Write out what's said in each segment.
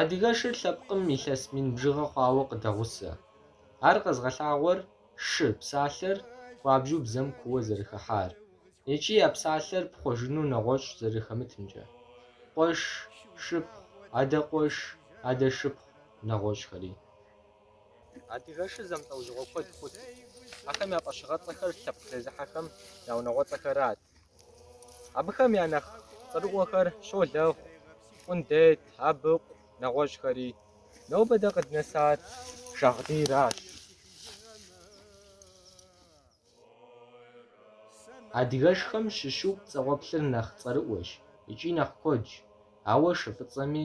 Адыгэшыр лъэпкъым илъэс мин бжыгъэ хъуауэ къыдэгъусэ. Ар къэзыгъэлъагъуэр шы псалъэр хуабжьу бзэм кууэ зэрыхыхьар, икӏи я псалъэр пхъуэжыну нэгъуэщӏ зэрыхэмытымкӏэ. Къуэш, шыпхъу, адэ къуэш, адэ шыпхъу нэгъуэщӏхэри. Адыгэшыр зэмылӏэужьыгъуэ куэд хъурт. Ахэм я фӏэщыгъэцӏэхэр лъэпкъ зезыхьэхэм я унагъуэцӏэхэрат. Абыхэм я нэхъ цӏэрыӏуэхэр Щолэхъу, Къундет, Абыкъу, нэгъуэщӏхэри. Нобэ дэ къыднэсар Шагъдийращ. Адыгэшхэм щыщу пцӏэгъуэплъыр нэхъ цӏэрыӏуэщ икӏи нэхъ куэдщ, ауэ шы фӏыцӏэми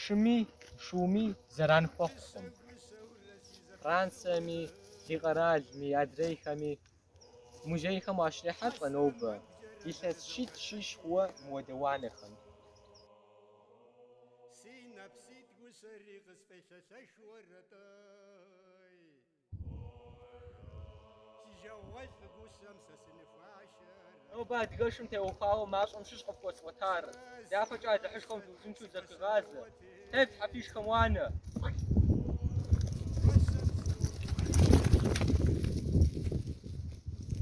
Шыми шууми зэран хуэхъукъым. Франциеми, ди къэралми, адрейхэми музейхэм уащрехьэлӏэ нобэ илъэс щитӏ-щищ хъууэ мыуэдэ уанэхэм. Си нэпситӏ гущэри къысфӏелъэлъэху уэрэтой. Нобэ адыгэшым теухуауэ мащӏэм щыщ къыфхуэсӏуэтар, дяпэкӏэ Алыхьышхуэм дыузыншэу зэхуигъазэ. Тефлъхьэ фишхэм уанэ!